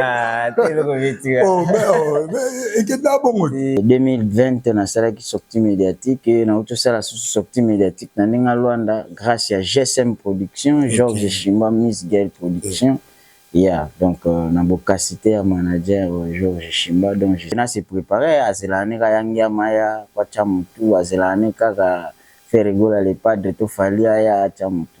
Ah, oh, oh, ekenda bongo 2020 nasalaki sortie médiatique eh, nauti osala susu sortie médiatique na ndenge alwanda grâce ya gsm production georges shimba miss gale production ya donc euh, na bokasi te ya manager euh, georges shimba donc na se préparer azelaka ne kaka yangi ya maya kwatya motu azelaka ne kaka ferregola le padre to fali aya atya motu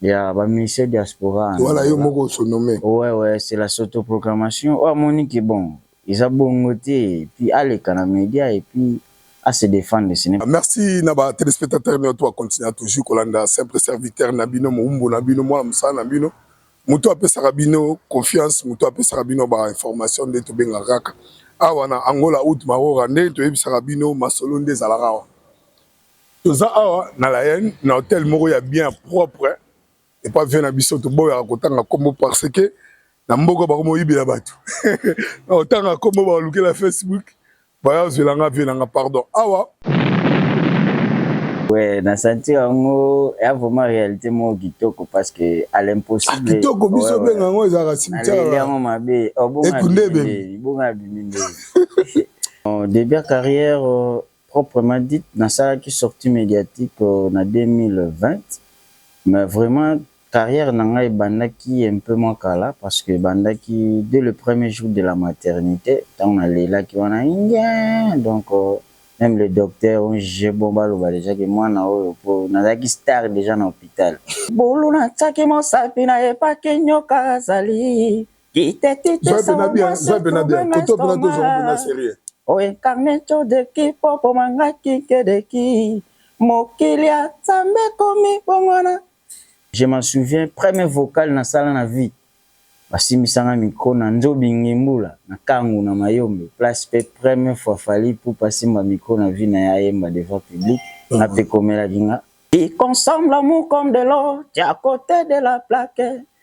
Ya ba ministère diaspora. Wana yo moko o se nommer. Ouais ouais c'est la s'autoproclamation oyo amoni que bon eza bongo te puis aleka na media et puis a se defendre ce n'est. Merci na ba telespectateurs nioto ba continua toujours kolanda simple serviteur na bino mowumbu na bino mwana mosala na bino mutu apesaka bino confiance mutu apesaka bino ba information nde tobengaka kaka awa na Angola Haut Maroora nde toyebisaka bino masolo nde ezalaka awa Toza awa na la haine na hotel moko ya bien ya propre epa vie na biso toboyaka kotanga kombo parce que na mboka bakoma oyibela bato na kotanga kombo bakolukela facebook baya ozwela nga vie na nga pardon awa Ouais, na sentir yango ya vraiment réalité moko kitoko parce que à l'impossible. Ah, kitoko biso ouais, benga yango ezalaka cimetière. Aleli yango mabe. Oh, bonga biminde. Bonga biminde. Début ya carrière, Proprement dit, nasalaki sortie mediatique na 2020, mais vraiment carrière na ngai ebandaki un peu mwa kala parce que ebandaki dès le premier jour de la maternite tango nalelaki wana ingeen donc meme les docteurs ont juge bon baloba dejà que mwana oyo po nazalaki star dejà na hopital. Bulu natiaki mosapi na ye pake nyoka azali. Vibe na bien, vibe na bien. Koto pena tozo pena sérieux. O incarne to de ki popo manga ki ke de ki. Mokili ya Nzambe komi bongwana. Je m'en souviens, premier vocal na sala na vie. Basimbisa nga micro na Nzobi Ngembula na Kangu na Mayombe place pe premier fois Fally Ipupa asimba micro na vie na ye ayemba devant public nga pe ekomelaki nga. Qui consomme l'amour comme de l'eau, tu es à côté de la plaque.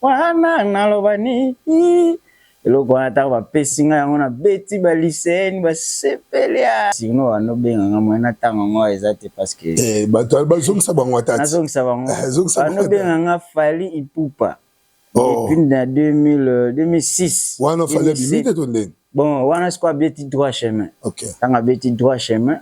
wana naloba nini eloko wana ntango bapesi ngai yango nabeti baliseni basepeli sino wana obenga ngai mwana ntango yango eza te parceke eh, bato bazongisa bango ata nazongisa bango eh, wana obenga ngai fali ipupa oh. depuis na 2006 wana fali abimi te to ndenge bon wana sikoyo abeti droit chemin ntango abeti droit chemin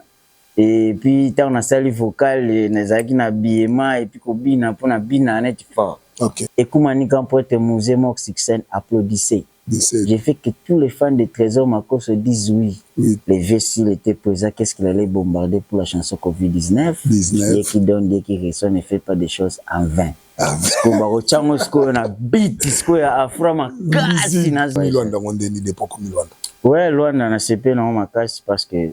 Et puis tango na sali vocal nazalaki na habillement et puis ko bina po na bina neti fort. Okay. Ekuma nika mpuete muze mort sur scène applaudissez. Je fais que tous les fans de Tresor Makosso disent oui. oui. Le vieux s'il était présent, qu'est-ce qu'il allait bombarder pour la chanson Covid-19 Dieu qui donne, Dieu qui reçoit ne fait pas des choses en vain. Ah, sikoyo bakotya yango sikoyo na bit sikoyo ya afra makasi na milwanda yango ndeni depoko milwanda we lwanda na sepe nango makasi parce que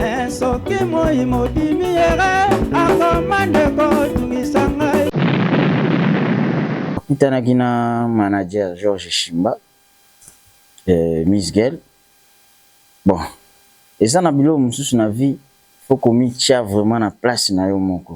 eh, soki moi mobimi yere akoma ndeko tungisa ngai akutanaki na manager george shimba eh, miss gel bon eza na biloko mosusu na vie fo komitya vraiment na place na yo moko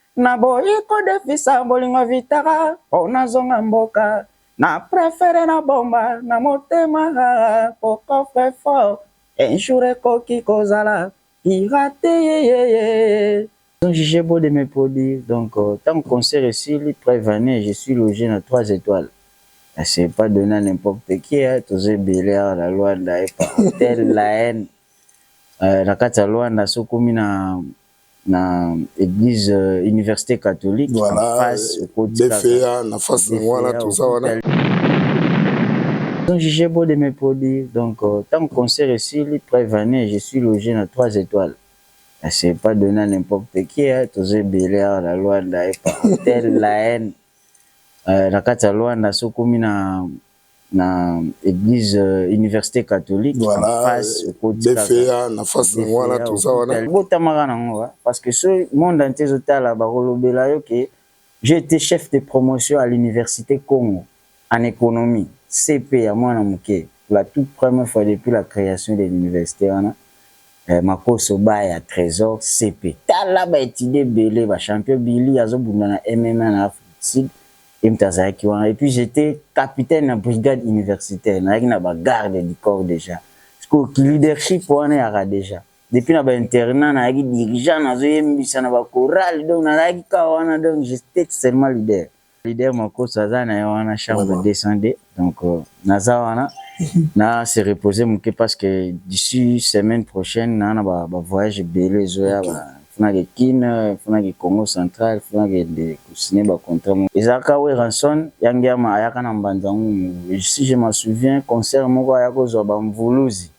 Naboyi ko defisa bolingo vitara po nazonga mboka Na prefere na bomba na motema haa Po coffre fort un jour ekoki kozala pirate yeyeyee Ont juge beau de me produire donc tango concert esili preuve en est je suis loge na trois etoiles na ce pas donne à n'importe qui hein toza ebele awa na Luanda epa hotel la haine na kati ya Luanda soki okomi na na eglise euh, université catholique voilà, en face euh, okoti BFA na face na wana toza wana donc j'ai beau de me produire donc euh, tant que concert esili preuve année je suis logé na 3 étoiles c'est pas donné à n'importe qui hein toza ebele awa na Luanda epa hôtel la haine euh, na kati ya Luanda sokomi na na eglise université catholique en face okoti BFA na face na wana toza wana botamaka na ngo parce que ce monde entier zo tala ba kolobela yo que j'ai été chef de promotion à l'université Congo en économie CP ya mwana muke la toute première fois depuis la création de l'université wana eh, makoso ba ya trésor CP tala ba étudier belé ba champion Billy azo bunda na MMA na Afrique Sud Ye moto azalaki wana et puis j'etais capitaine na brigade universitaire, nazalaki na ba gardes du corps dejà. Sikoyo ki leadership wana ya Radeja, depuis na ba internats nazalaki dirigeant, nazo yembisa na ba chorales, donc nazalaki kaka wana, donc j'etais seulement leader. Leader Makosso aza na ye wana chambre 202. Donc euh, naza wana na se reposer moke parce que d'ici semaine prochaine na na ba, ba voyage ebele ezoya okay. ba funaki Kin funaki Congo central funaki de signer ba contrat moko ezalaka Weranson ya Ngiama ayaka na Mbanza Ngumu si je me souviens concert moko aya kozwa ba mvuluzi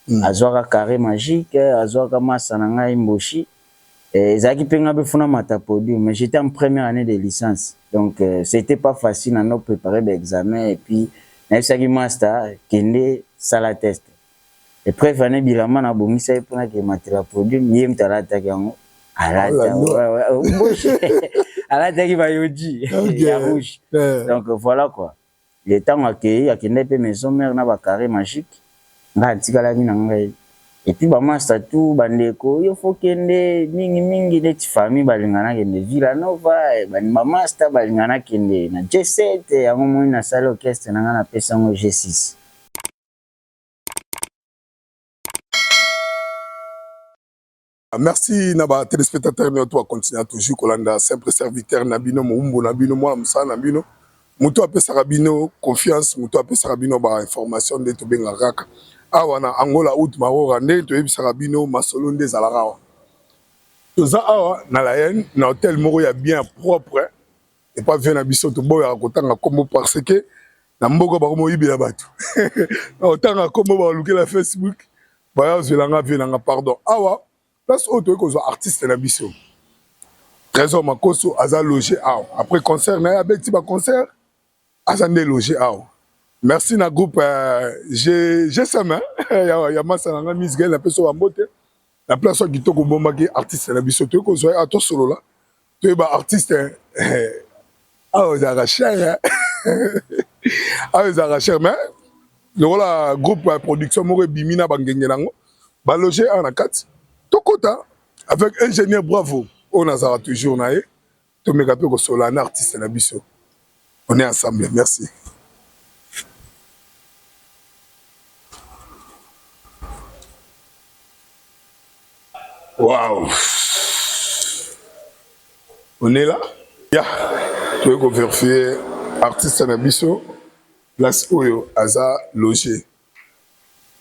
mm. azwaka carré magique azwaka masa na ngai Mboshi Eh, ezalaki mpe ngai mpe funa mata podium mais j'étais en première année de licence donc euh, c'était pas facile na no préparer ba examen et puis nayebisaki master kende sala test et preuve année bilamba na bongisa ye mpona ke matela podium ye mtu alataki yango alata oh ouais, ouais, oh, alataki bayoji ya rouge donc voilà quoi Ye tango akeyi akendaki pe maison mère na ba carre magique ngai atikalaki na ngai et puis ba masta tout ba ndeko yo faut kende mingi mingi neti famille balinga na kende villa nova ba masta balinga na kende na G7 yango omoni na sali orchestre na ngai na pesi yango G6. Ah, merci na ba téléspectateurs nyo to continue toujours kolanda simple serviteur na bino moumbu na bino mwana mosala na bino moto apesaka bino confiance moto apesaka bino ba information nde tobengaka kaka awa na Angola out marora nde toyebisaka bino masolo nde ezalaka awa toza awa na la haine na hôtel moko ya bien propre epa vie na biso toboyaka kotanga kombo parce que na mboka bakomoyibela bato na kotanga kombo balukela Facebook Baya ozela nga vie na nga pardon. Awa place oyo toyei kozwa artiste na biso. Trésor Makoso aza loger awa. Après concert na ye abeti ba concert aza nde loger awa. Merci na groupe euh, je je sema ya, ya masa na nga Miss Gaël na peso ba mbote. Na place oyo kitoko bombaki artiste na biso toyei kozwa ye awa tosolola. Pe ba artiste awa ezalaka cher awa ezalaka cher mais lokola groupe ya production moko ebimi na bangenge nango baloge awa na kati tokota avec ingénieur bravo oyo nazalaka toujours na ye tomeka mpe kosolola na artiste na biso On est ensemble, merci. Waouh On est là Ya yeah. Toyei koverifie artiste na biso place oyo aza loge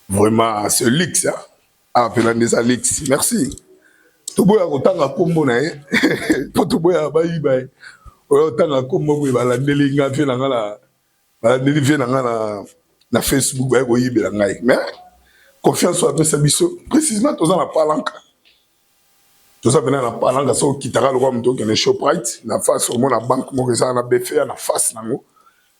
vraiment ce luxe hein? Ah, pela ndeza Alexi. Merci. Toboya kotanga kombo na ye. Po toboya bayiba ye. Oyo tanga kombo boye balandeli nga vie na nga na balandeli vie na nga na na Facebook baye koyibela ngai. Mais confiance oyo apesa biso précisément toza na palanka. Toza pena na palanka so kitaka lokwa moto okende Shoprite na face omona banque moko eza na BFA na face nango.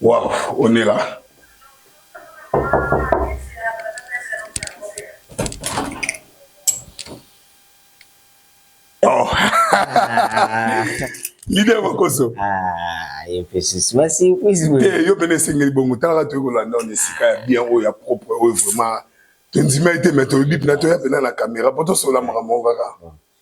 Waouh, on est là. Oh. Leader Makoso. Ah, il fait ceci. Merci, oui. Eh, yo bene singeli bongo tala tu ko landa on esika ya bien oyo ya propre oyo vraiment. Tondima ete mais tolobi pina to ya pina na caméra poto sola makambo kaka.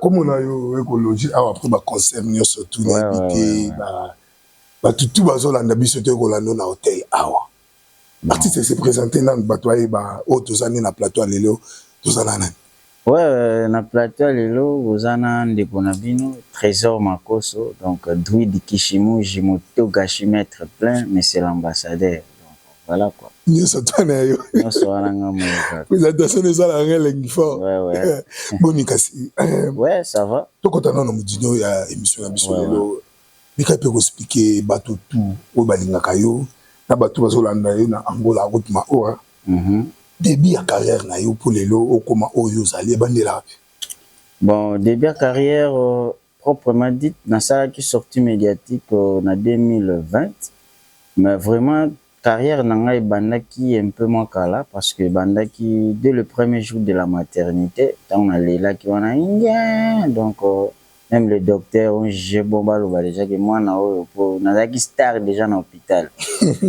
Comment na yo ekoloji awa après ba concert nioso tout na invité ba ba tutu bazolanda biso to ekolanda na hotel awa artiste se présenter nanu bato ayeba oyo toza nde na plateau lelo toza na nani Ouais, na plateau ya lelo boza na ndeko na bino Trésor Makoso, donc Druid Kishimuji Motogashi Maître Plein, Monsieur l'Ambassadeur. Voilà quoi. Nyoso toi na yo. Nyoso wana nga moi kaka. Présentation de sala nga elengi fort. Ouais ouais. Eh, boni kasi. Eh. Ouais, ça va. Tokota nano mudino ya émission na biso lelo. Mika pe ko expliquer bato tout oyo balingaka yo na bato bazolanda yo na Angola route Maora. Mhm. Début ya carrière na yo pour lelo okoma oyo ozali ebandela wapi? Bon, début ya carrière euh, Proprement dit, nasalaki sortie mediatique na 2020, mais vraiment carrière na ngai ebandaki un peu mwa kala parce que ebandaki dès le premier jour de la maternite tango nalelaki wana ingeen donc meme les docteurs ont juge bon baloba dejà que mwana oyo po nazalaki star dejà na hopital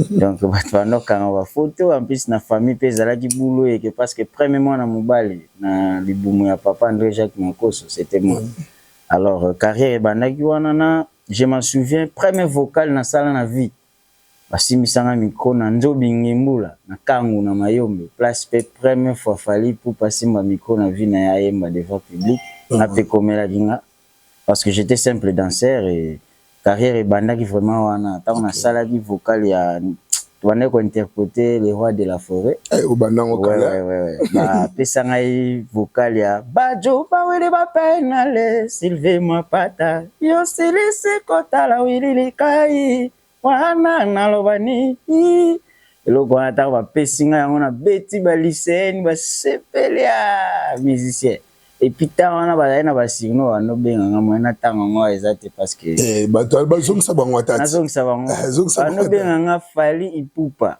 donc batu babanda kokanga ba photos en plus na famille pe ezalaki boulot eke parce que premier mwana mobali na libumu ya papa Andre Jacques Makoso c'etait moi alors carrière ebandaki wana na je m'en souviens premier vocal na sala na vie basimbisa nga micro na Nzobi Ngembula na Kangu na Mayombe place pe première fois Fally Ipupa asimba micro na vie na ye ayemba devant public nga pe ekomelaki nga parce que j'etais simple danseur et carrière ebandaki vraiment wana tango na salaki vocal ya tobandaki ko interpréter le roi de la forêt eh obanda ngo ouais, kala ouais, ouais, ouais. ba pesa ngai vocal ya bajo ba wele ba penale silve mapata yo silisi kotala wilili kai wana naloba nini eloko wana ntango bapesi ngai yango nabeti baliseeni basepeli ya ah, musicien epuis ntango wana bazali na basurno banobenga ngai moye natanga yango eza te parceke eh, bato bazongisa bango ata nazongisa bango eh, banobenga ngai fali ipupa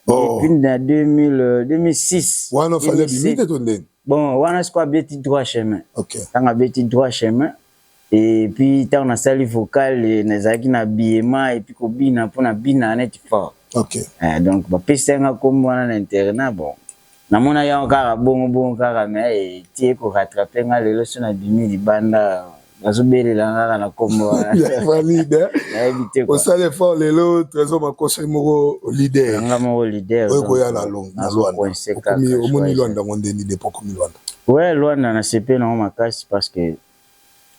Oh. Depuis na 2000, 2006. Wana fallait 2007. bimite to ndenge. Bon, wana siko abeti droit chemin. Okay. Tanga abeti droit chemin. Et puis ntango nasali vocal eh, nazalaki na biema et puis kobina mpo na bina neti fort. Okay. Eh, donc bapesaki nga nkombo wana na internat bon Na mona yango kaka bongo bongo kaka mais eh, ti eko rattraper nga lelo so na bimi libanda bazo belela nga kaka na kombo ya valide nayebi te quoi osala effort lelo trésor makoso ye moko leader nga moko leader oyo koya na long na Luanda okomi omoni Luanda ngo nde ni dépôt komi Luanda ouais Luanda na sepe na makasi parce que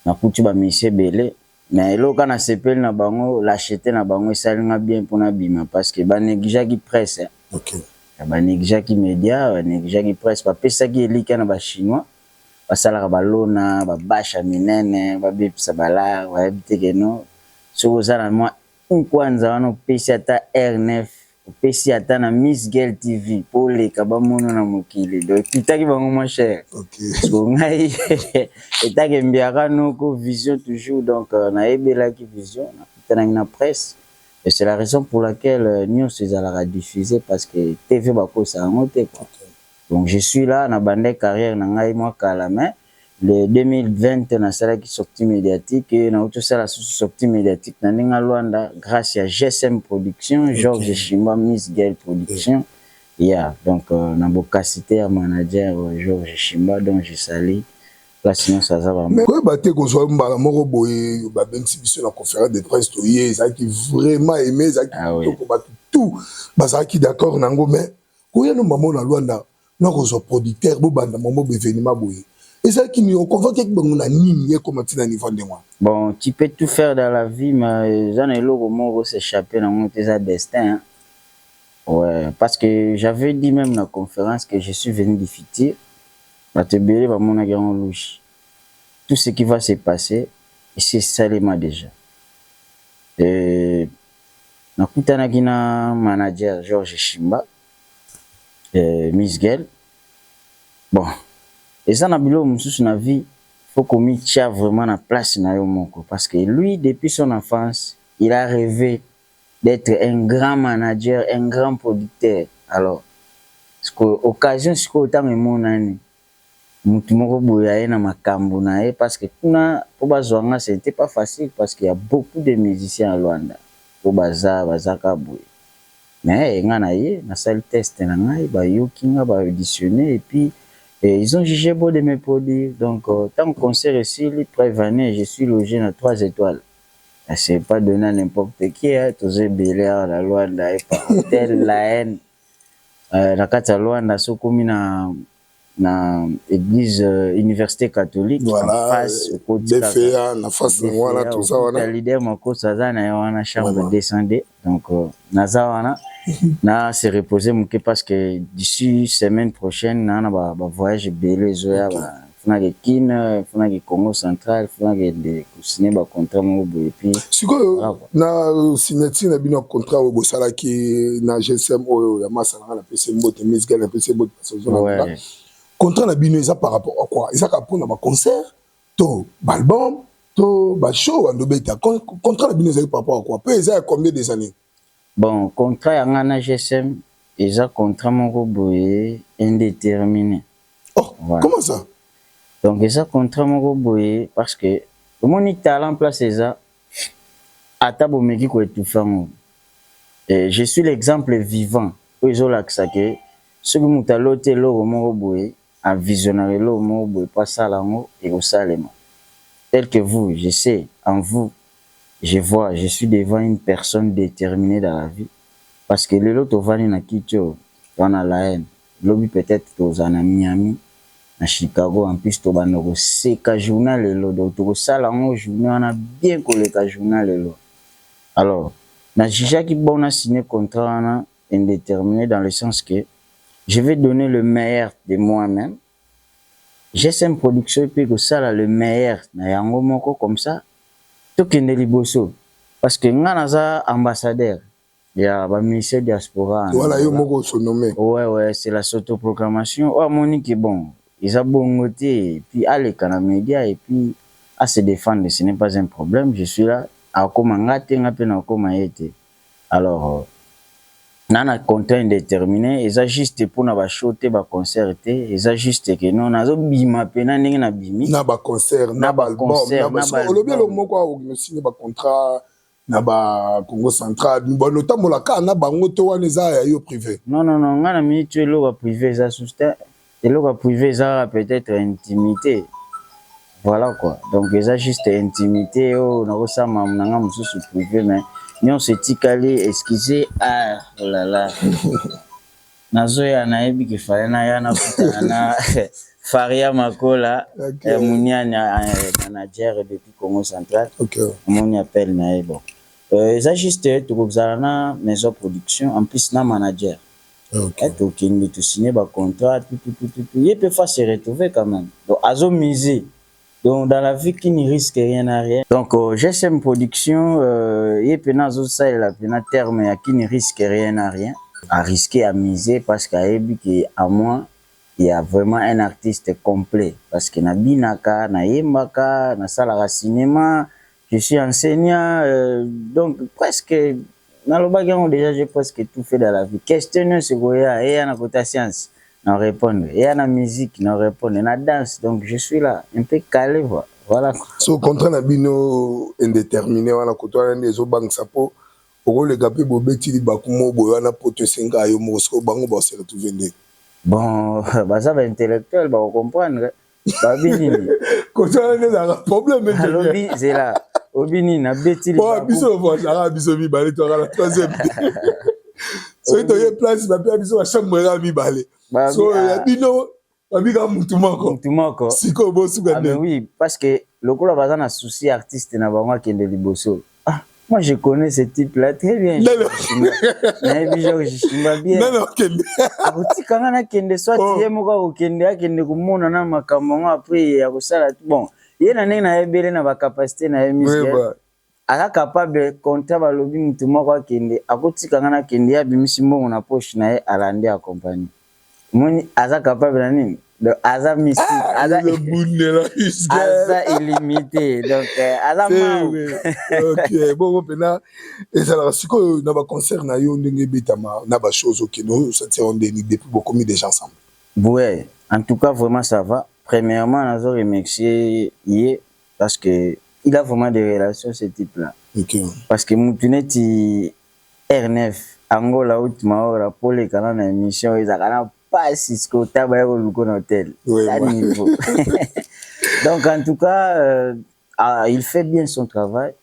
na kutu ba musiciens belé Mais eloko kaka nasepeli na bango lachete na bango esali nga bien po nabima parce que ba negligeaki presse hein. Okay. Ba negligeaki media, ba negligeaki presse, bapesaki elikya na ba chinois basalaka ba lona ba bache ya minene babebisa ba lar bayebi te que non soki oza na mwa Humm kwanza wana opesi ata heure neuf opesi ata na miss gel TV po oleka ba mono na mokili donc ekitaki bango mon cher sikoyo ngai etake mbiaka noko vision toujours donc na yebelaki vision na kutanaki na presse et c'est la raison pour laquelle nionso ezalaka diffuse parce que TV bakosaka yango te quoi donc je suis là na bandaki carrière na ngai mua kala mais Le 2020 nasalaki sortie mediatique, nauti kosala susu sortie mediatique na ndenge ya Luanda grace ya GSM production, Georges Shimba Miss Gael production. Yeah, donc na bokasi te ya manager Georges Shimba dont je salue place nionso aza ba. Mais koyeba te kozwa mbala moko boye babengisi biso na conference de presse toye ezalaki vraiment aime ezalaki kitoko batu tout bazalaki d'accord na yango mais Koya no maman na Luanda na kozwa producteur bo banda maman ba evenement boye. Ezalaki nini o convoquaki bango na nini ekoma ti na niveau ndenge wana? Bon tu peux tout faire dans la vie mais eza na eloko moko ko s'echapper na ngo te eza destin hein. Ouais parce que j'avais dit meme na conference que je suis venu du futur batu ebele ba monaki yango louche. Tout ce qui va se passer esi esalema dejà. Et Nakutanaki na manager Georges Shimba, eh, Miss Gel. Bon, eza na biloko mosusu na vie, faut komitia vraiment na place na yo moko. Parce que lui, depuis son enfance, il a reve d'etre un grand manager, un grand producteur. Alors, sikoyo occasion sikoyo tango emonani, mutu moko boye aye na makambu na ye parce que kuna po ba zua nga ce n'etait pas facile parce qu'il ya beaucoup de musiciens ya Luanda po baza baza kaka boye mais nga na ye na sali test na ngai ba yoki nga ba auditionner et puis ils ont juge bon de me produire donc tangu concert esili preuve en est je suis loge na trois etoiles c'est pas donne à n'importe qui hein toza ebele awa na Luanda epa hotel la haine na kati ya Luanda soki okomi na na eglise euh, université catholique voilà, en face okoti euh, BFA na face na wana toza wana leader makosa aza na wana chambre voilà. 202 donc euh, naza wana mhm. na se reposer moke parce que d'ici semaine prochaine na na ba, ba voyage ebele ezoya okay. ba Funa ke kin, funa ke Congo central, funa ke de ko signer ba contrat moko boye puis. Sikoyo na signature na bino ya contrat oyo bosalaki na GSM oyo ya masa nanga na pese mbote Miss Gala na pese mbote parce que zona nanga. Contrat na bino eza par rapport à quoi? Eza kaka pona ba concert to ba album to ba show bando beta contrat na bino ezali par rapport à quoi? Pe eza ya combien des annees? Bon contrat ya nga na GSM eza contrat moko boye indetermine. Oh! Comment ça? Donc eza contrat moko boye parce que omoni talent place eza ata bo meki ko etouffer yango eh, je suis l'exemple vivant oyo ezo lakisa que soki mutu aloti eloko moko boye a visionaka eloko moko boye po asala yango ekosalema tel que vous je sais en vous je vois je suis devant une personne determine dans la vie parce que lelo tovandi na kiti oyo toza na la haine lobi peut etre tokozala na Miami na Chicago en plus tobanda koseka jour na lelo donc tokosala yango journee wana bien koleka jour na lelo alors na jugeaki bon na signe contrat wana indetermine dans le sens que je vais donner le meilleur de moi meme, GSM production pe ekosala le meilleur na yango moko comme ça tokende liboso parce que nga naza ambassadeur ya ba musiciens diaspora na Voilà yo Angola. moko oso nomme. Ouais ouais c'est la s'autoproclamation oyo amoni que bon eza bongo te et puis aleka na media et puis a se defendre ce n'est pas un problème je suis là akokoma nga te nga pe nakokoma ye te. alors na na contrat indetermine eza juste pona ba show te ba concert te eza juste que non nazo bima pena ndenge na bimi na ba concert na ba album na ba so olobi eloko moko a ogno signer ba contrat na ba Congo central bon otambola ka na bango to wana eza ya yo prive non non non nga na minute eloko prive eza sous terre Eloko ya prive eza kaka peut etre intimite voila quoi donc eza juste intimite oyo nakosala mamu na nga mosusu prive mais nyonso etikali excuse ah olala nazoya nayebi kifale naya nakutana na Faria Makola okay. eh, Muniani eh, manager depuis Congo Central okay. Moni appel na ye bon euh, eza juste tokozala na maison production en plus na manager Ati okende tu signe ba contrat tututututu ye pe fa se retrouver quand meme donc azo mise donc dans la vie qui ne risque rien n'a rien donc GSM production ye pena azo salela pena terme ya qui ne risque rien n'a rien a risque a mise parce que ayebi que à moi ya vraiment un artiste complet parce que na binaka na yembaka na salaka cinema Je suis enseignant euh, donc presque nalobaki yango déjà j'ai presque tout fait dans la vie question nyonso ekoya eya na kota science na répondre eya na musique na répondre na danse donc je suis là un peu calé voilà voilà so contrat na bino indéterminé wana koto wana nde ezobangisa mpo okoleka mpe bobeti libaku mo boye wana poto esenga yo moko sikoyo bango baoseretrouve nde bon baza baintellectuel bakocomprendre babi nini kosala nde ezalaka problème alobi zela obi nini nabeti biso voisaa biso mibale toyaka na troisième soki toye place bapea biso bachambre kaka mibale so ya ah. bino babika mutu moko mutu moko sikoyo bosuka ah, nde oui parce que lokola baza na souci artiste na bango akende liboso Ah, moi je connais ce type là très bien. Non, non. Nayebi Georges Shimba bien. Non, non, kende. Akotika nga nakende soit oh. ye moko akokende akende komona na makambo yango après akosala bon. Ye na ndenge nayebele na bacapacité na ye musicale. Oui, aza capable konta balobi motu moko akende akotika nga nakende ye abimisi mbongo na poche na ye alandi accompagne. Moni aza capable na nini? Donc aza mystique, ah, aza le bundela aza illimité. Donc euh, aza mau. OK, bongo pena ezalaka sikoyo na ba concert na yo ndenge ebetama na ba shows OK, no sentir on déni depuis bokomi déjà ensemble. Ouais, en tout cas vraiment ça va. Premièrement, nazo remercier ye parce que il a vraiment des relations ce type là. OK. Parce que mutu neti RNF Angola aut maora po oleka na na emission ezalaka na pasi sikoyo ta baya koluka na hotel ta niveau donc en tout cas euh, ah, il fait bien son travail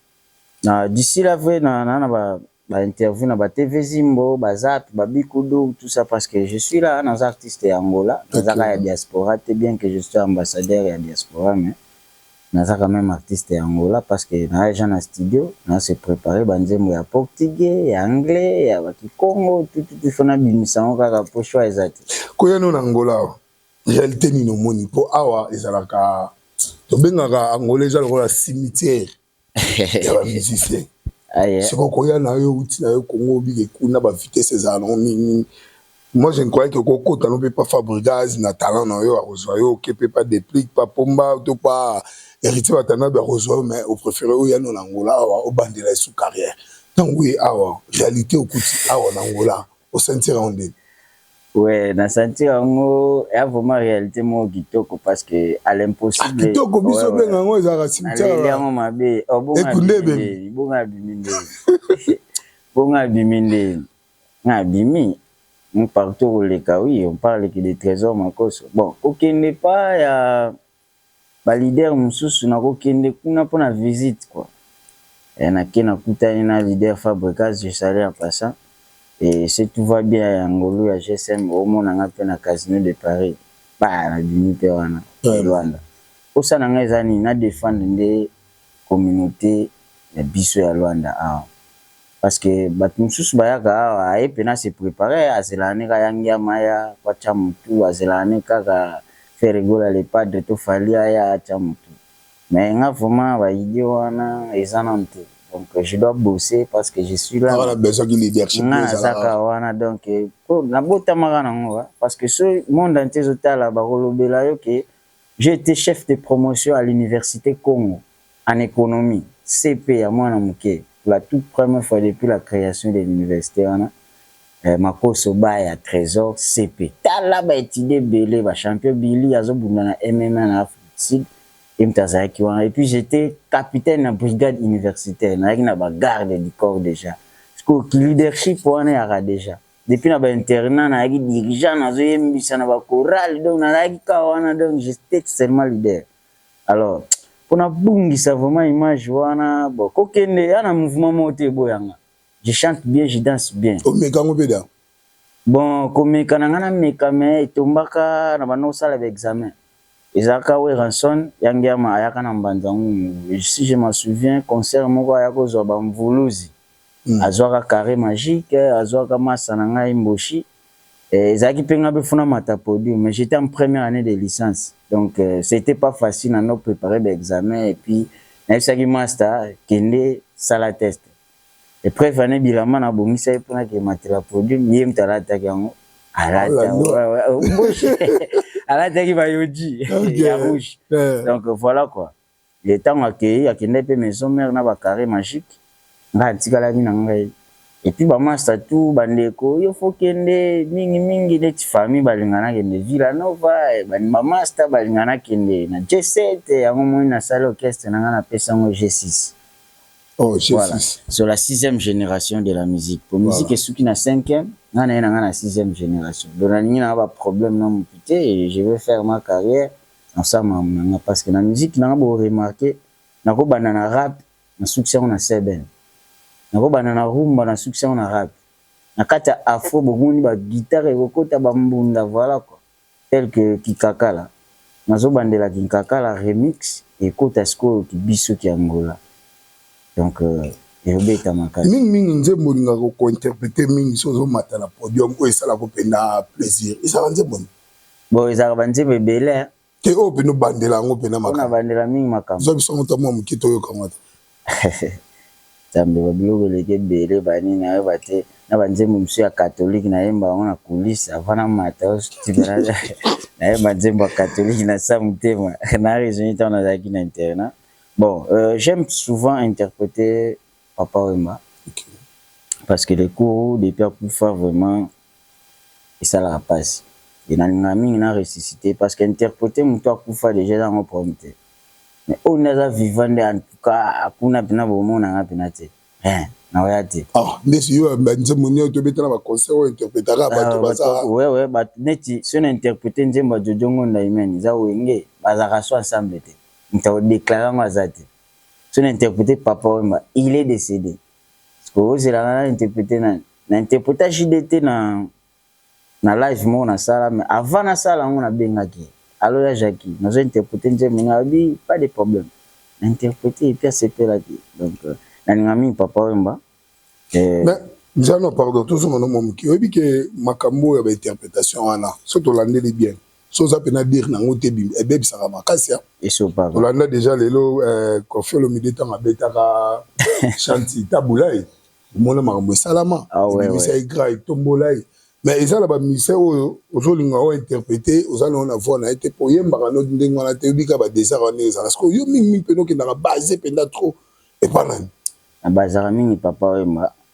na d'ici là vrai na na, na ba ba interview na ba TV Zimbo, ba Zap, ba Bikudu, tout ça parce que je suis là, dans artiste ya Angola, dans okay. ya diaspora, c'est bien que je sois ambassadeur ya diaspora mais Naza quand meme artiste ya Angola parce que na ja na studio na se preparer ba nzembo ya portugais, ya anglais, ya ba kikongo tout tout il faut na bimisa yango kaka po choix eza te. Ko ya no na Angola awa realite nini omoni? Po awa ezalaka tobengaka Angola eza lokola cimetière ya ba musiciens. Soki okoya nayo owuti nayo Congo obike kuna ba vitesse ezalaka nango mingi mingi Moi je ne croyais que okokota no pe pa Fabrigaz na talent na yo akozwa yo oke pe pa Deplick pa Pomba to pa Heritier Watanabe akozwa yo mais o prefere oya no na Angola awa obandela esu carrière tango oye awa realite okuti awa na Angola osentira yango ndeni? Ouais, na sentir yango ya vraiment réalité moko kitoko parce que à l'impossible. Ah, kitoko biso ouais, benga yango ezalaka cimetière. Aleli yango mabe. Oh, bonga biminde. Bonga biminde. bonga biminde. Nga na bimi mpe partout oko leka oui on parle que de tresor makoso bon ko kende epa ya ba leader mususu nako kende kuna pona visite quoi eh na ke na kutani na leader fabregas je salue en passant et ce tout va bien ya ngolu ya GSM o mona nga mpe na casino de paris bah na bimi mpe wana luanda posa na nga eza nini na defendre nde communaute ya biso ya Luanda awa parce que batu mususu bayaka awa aye pena se preparer azelaka ne ka ya ngiama aya po atia mutu azelaka ne kaka ferre gola le padre to fally aya atia mutu mais nga vraiment ba idee wana eza nanu te donc je dois bosser parce que je suis là nga naza kaka wana donc po nabotamaka nango parce que soki monde entier ezo tala bakolobela yo ke J'ai ete chef de promotion à l'universite Congo en economie, CP ya mwana muke pour la toute première fois depuis la creation de l'universite wana, Makoso Baya Tresor, CP. Tala ba etudiants ebele, ba champions, Billy azo bunda na MMA na Afrique du Sud, ye mutu azalaki wana. Et puis j'etais capitaine na brigade universitaire, nazalaki na ba gardes du corps dejà. Sikoyo ki leadership wana eyaka dejà? Depuis na ba internat nayaki dirigeant nazo yembisa na ba chorale donc nazalaki kaka wana donc j'etais seulement leader. Alors mpo nabungisa vraiment image wana bon kokende ya na mouvement moko te eboya nga. Je chante bien, je danse bien. Omeka yango mpe da? Bon komeka na nga nameka mais etombaka na banda kosala ba examen. Eza ka Werrason ya ngiama ayaka na mbanza ngungu si je m'en souviens concert moko aya ko zua ba mvuluzi azuaka carre magique azuaka masta na ngai mboshi ezalaki pe ngai befuna mata podium mais j'etais en première annee de licence donc c'etait pas facile na no preparer ba examens et puis nayebisaki masta kende sala test Epreuve ane bilamba na bongisa ye pona ke matela produit ye mta alataki yango alata bouche alataki ba yoji ya rouge donc voilà quoi le tango akeyi akendaki pe maison mère na ba carré magique nga atikalaki na ngai et puis ba masta tout ba ndeko yo faut kende mingi mingi neti famille balingana kende Villa Nova ba ba masta balingana kende na G7 yango moni na sali orchestre na nga na pesa ngo G6 Oh, G6. Voilà. Sur la sixième génération de la musique. Pour voilà. musique esuki na cinquième, nga na ye na nga na sixième génération. Donc nalingi na ba problème na mutu te et je vais faire ma carrière na sa mamu na nga parce que na musique na nga bo remarquer nako banda na rap na succès on a seben. Nako banda na rumba na succès on a rap. Na kata afro bo moni ba guitare ko kota ba mbunda voilà quoi. tel que kikakala nazo bandela kinkakala remix ekota sikoyo ki biso ki angola donc ezo beta makasi. Mingi mingi nzembo olingaka ko interpreter mingi soki ozo mata na podium oyo esalaka yo penza plaisir ezalaka nzembo nini? Bon ezalaka ba nzembo ebele hein. Te oyo penza obandela yango penza makambo. Oyo na bandela mingi makambo. Zwa biso yango ata mua muke toyoka yango ata. Nzambe ba biloko eleki ebele ba nini na yeba te na ba nzembo misusu ya catholique na yemba yango na kulisse avant na mata oyo suka na yemba nzembo ya catholique na sa mutema na raisonne tango na zalaki na internat bon euh, j'aime souvent interpreter papa wemba okay. parce que le cours depuis akufa vraiment esalaka pasi et nalingaka mingi na ressuscite parce que interprete mutu akufa dejà eza yango problème te mais oyo nde aza vivant nde en tout cas kuna pena bomona nga pena te hein nakoya te. Ah nde siyo ba nzembo nioso tobeta na ba concert oyo interpretaka batu baza. Ouais ouais batu neti soki na interprete nzembo ya Jojo Ngonda Hymen eza wenge bazalaka soki ensemble te mutu ako declare yango aza te soki na interprete Papa Wemba il est decede. Ozelaka na interprete nani? Na interpreta JDT na na live moko na sala mais avant na sala yango na bengaki ye. Allo ya Jackie, nazo interprete nzembo nga bi pas de problème. Na interprete et puis asepelaki. Donc euh, na linga mingi papa Wemba. Euh, mais Njano pardon tozonga no mwa moke. Oyebi ke makambo ya ba interpretation wana so tolandeli bien so oza mpe na dire na yango te ebebisaka makasi tolanda deja lelo eh, kofi olomide ntango abetaka shanti tabula ye omona makambo esalama ah, ebimisa ye gra etombola ye mais eza na bamusicien oyo ozolinga oyo interprete oza nango na voi na ye te mpo oyembaka no ndenge wana te oyebika badesert wana ezala sikoyo yo mingimingi mpenza okendaka base mpenza trop epa nani nabazaka mingi papa oyemba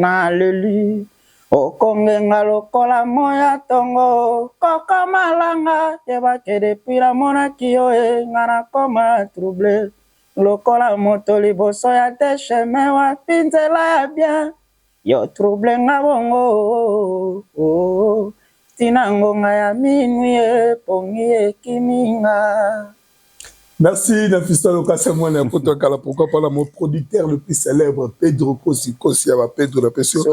Na leli okongenga lokola moyi ya tongo koko malanga yeba que depuis na monaki yo eh nga na koma trouble lokola moto liboso ya deux chemins wapi nzela ya bien yo trouble nga bongo oh oh oh Tii na ngonga ya minwi e, pongi e kimi nga. Merci Nafissatou Lokasa mwana ya poto ya kala pourquoi pas na mon producteur le plus célèbre Pedro Kosi Kosi ya ba Pedro na pesi yo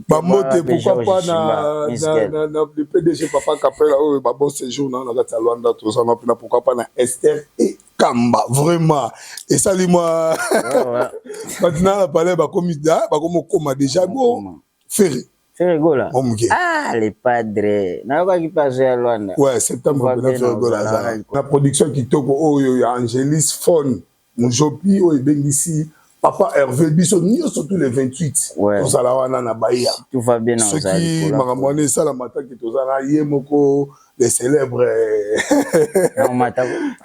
ba mbote pourquoi pas na na na na le PDG Papa Kapela oyo ba bon séjour na na kati ya Luanda toza na pina pourquoi pas na Esther et Kamba vraiment esali mwa batina na palais bakomi da bakomi okoma déjà go ferre Ferre Gola. Mon muke. Ah le padre. Nayokaki pe azo ya Luanda. Ouais, septembre pena Ferre Gola aza. Na production kitoko oyo ya Angelis Phone Mujopi oyo ebengisi Papa Hervé biso nyonso tous les 28 ouais. tozala wana na Bahia. Tout va bien na soki makambo wana esala mataki toza na ye moko le célèbre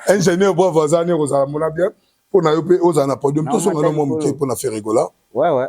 ingénieur bravo aza ne kozala mona bien mpo na yo mpe ozala na podium tosonga no mwa moke mpo na Ferre Gola. Ouais ouais.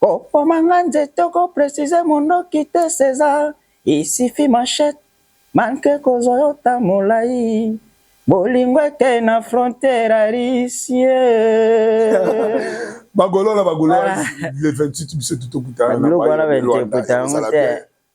Kokoma nga nzete ko precise mondoki te Cesar il suffit machette manque kozwa yo temps molayi bolingo eke na frontière ya Russie Bagolo na bagoloise le 28 biso tout tokutana na biloko wana ba interpreta yango te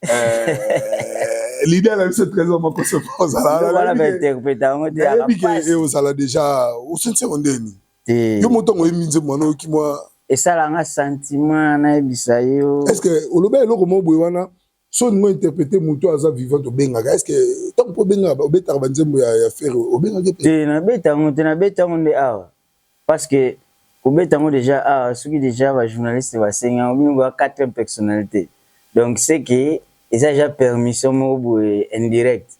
eh, l'idée na biso trésor moko se ozala wana ba interpreta yango te nayebi ke ozala déjà osense ondeni te yo moto yango oyembi nzembo wana oyoki mwa esala nga sentiment nayebisa yo est ce que oloba eloko moko boye wana so olingi ointerprete moto aza vivant obengaka est ce que ntango mpo obengaka obetaka banzembo ya, ya fere obengaki te te nabeta yango te nabeta yango nde awa parce que kobeta yango deja awa ah, soki deja bajournaliste basengi yango bino boya 4 personnalité donc seke eza deja permission moko boye indirecte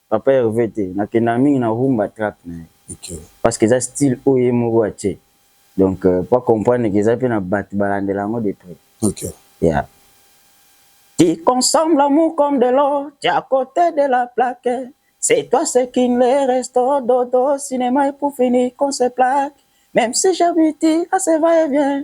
Papa Herve te nakendaka mingi na rumba track na ye parce que eza style oyo ye moko atie donc po a comprendre que eza pe na batu balandela yango de près yeah qui consomme l'amour comme de l'eau tu à cote de la plaque c'est toi ce qui ne reste dodo cinemas et pour finir qu'on se plaque meme si j'habite à se va et vient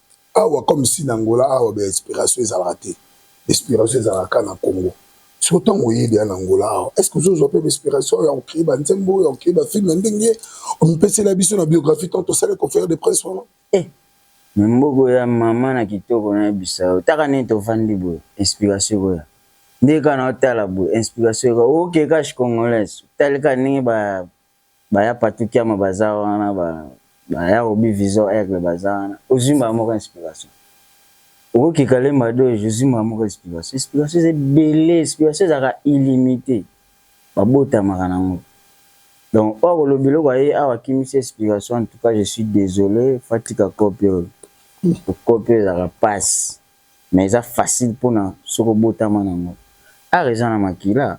awa comme si na Angola awa ba inspiration ezalaka te inspiration ezalaka kaka na Congo soki ntango oyebi ya na Angola awa est ce que ozozwa mpe inspiration ya kocree ba nzembo ya kocree ba film ya ndenge omipesela biso na biographie tant osali conférence de presse wana eh. mboko ya mama na kitoko nayebisa yo taka nini tovandi boye inspiration ekoya ndenge kaka na otala boye inspiration ekoya oke kash congolaise otalika ndenge ba ba ya patou kiama baza wana ba ba ya obi vison aigle baza wana ozui mbala moko inspiration oko kika le madoge ozui mbala moko inspiration inspiration eza ebele inspiration ezaka illimite ba botamaka na ngo donc oyo akoloba eloko aye awa akimisi inspiration en tout cas je suis desole faut atika cope oyo cope oyo ezaka pasi mais eza facile pona soki obotama nango art eza na makila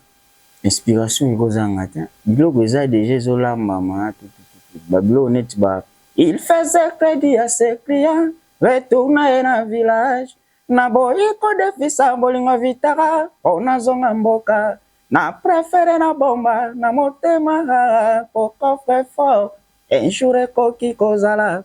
inspiration eko zanga te biloko eza deja ezo lambama tutututu ba biloko neti ba il faisait credit à ses clients retour na ye na village na boyi ko defisa bolingo evitaka po na zonga mboka na prefere na bomba na motema haa po coffre fort un jour ekoki ko zala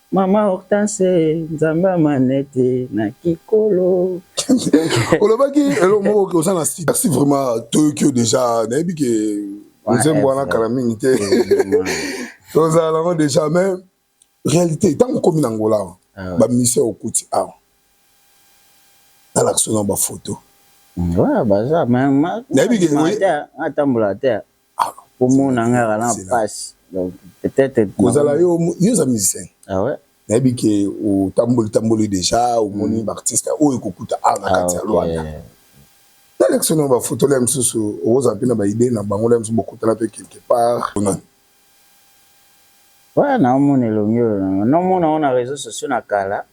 Maman Hortense nzambe ya manette na kikolo. olobaki eloko moko ke oza na sida si vraiment toyoki yo deja nayebi ke nzembo wana kala mingi te tozala nango deja mais réalité ntango okomi na ngola awa ah bamusicien okuti awa nalakisi na bafoto nayebi ke atambola te omona nga na pasi donc peut-être kozala yo yo za musicien ah ouais nayebi ke otamboli tamboli déjà omoni mm. ba artiste oyo ekokuta a na kati ya ah, Luanda nalekisi na ba photo la misusu okozala mpe na ba idée na bango la misusu bokutana mpe quelque part onani ouais naomona elongi oyo naomona ona réseaux sociaux na kala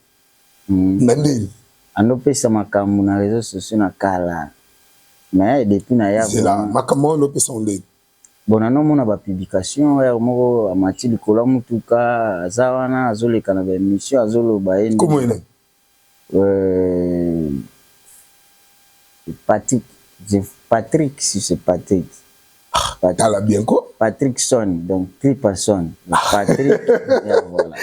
Nandini? Ando pesa makambu na reseaux sociaux na kala mais depuis na ya zela makambu wana ando pesa ngo ndeni? Bon nano mona ba publication heure moko amati likolo ya mutuka aza wana azo leka na ba emission azo loba ye nde kombo ye nani? Euh, Patrick, Patrick si c'est Patrick Ah, tala bien ko. Patrick Son, donc three person. Patrick, voilà.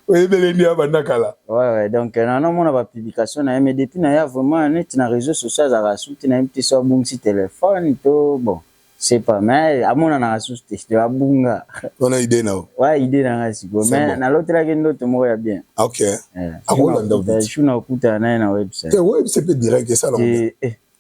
oyebele nde abanda kala ouais, ouais, donc euh, nanamona bapublication na ye mais depuis naya vraiment neti na réseau social azalaka susu te nayebi te so abungisi telefone to bon c'est pas mais amonanaka susu te to abunga wana idée nao wa idée na ngai sikoyo mais nalotelaki ndoto moko ya bien ok eh, akolanda na okutana naye na website eh, website mpe direct esala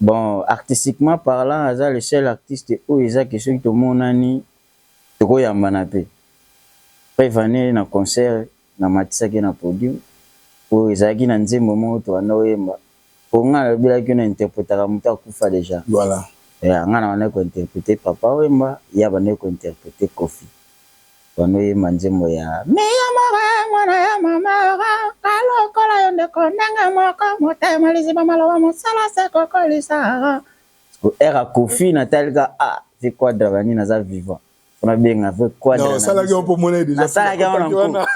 Bon artistiquement parlant aza le seul artiste oyo eza que soki tomonani toko yambana pe. Preuve en est na concert na matisaki ye na podium po ezalaki na nzembo moko tobanda koyemba po nga nalobelaki yo na interpretaka mutu akufa dejà. Voilà. Nga nabandaki ko interpreter Papa Wemba ye abandaki ko interpreter Koffi. Bano yemba nzembo ya. Mi ya mora mwana ya mama ora nga lokola yo ndeko ndenge moko motema liziba maloba mosala se kokolisa ora. Siko heure ya koffi na tali ka ah vieux quadra ba nini aza vivant po na benga vieux quadra na salaki yango po mona deja salaki yango na nko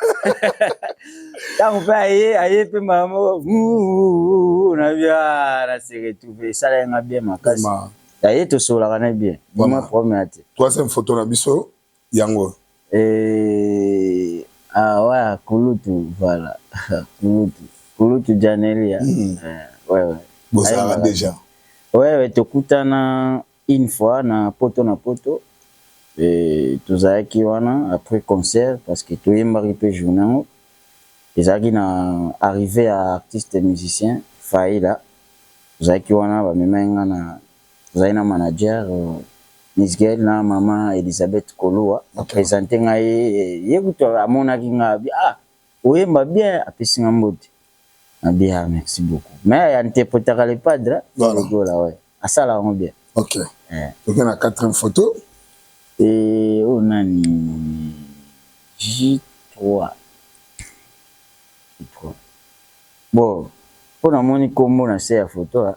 tango pe aye aye pe mbala moko na bia ah, na se retrouver esala nga bien makasi aye tosolaka na bien bima problème ya te toi c'est photo na biso yango. Eeh ah waa kulutu voilà kulutu kulutu dja nelia eeh wewe bozalaka dejà wewe tokutana une fois na poto na poto eeh tozalaki wana après concert parce que toyembaki pe journee yango ezalaki na arrivee ya artiste musicien faila tozalaki wana bamemaki nga na Tozali na manager Miss Gaelle na maman Elisabeth Koluwa ba presenter nga ye, ye kutu amonaki nga abi ah oyemba bien apesi nga mbote nabi ah merci beaucoup mais a interpretaka le padre de Gola ouais asala yango bien. Ok toke na quatrième photo. Eh oyo nani J3 J3 bon po namoni kombo na se ya photo ah.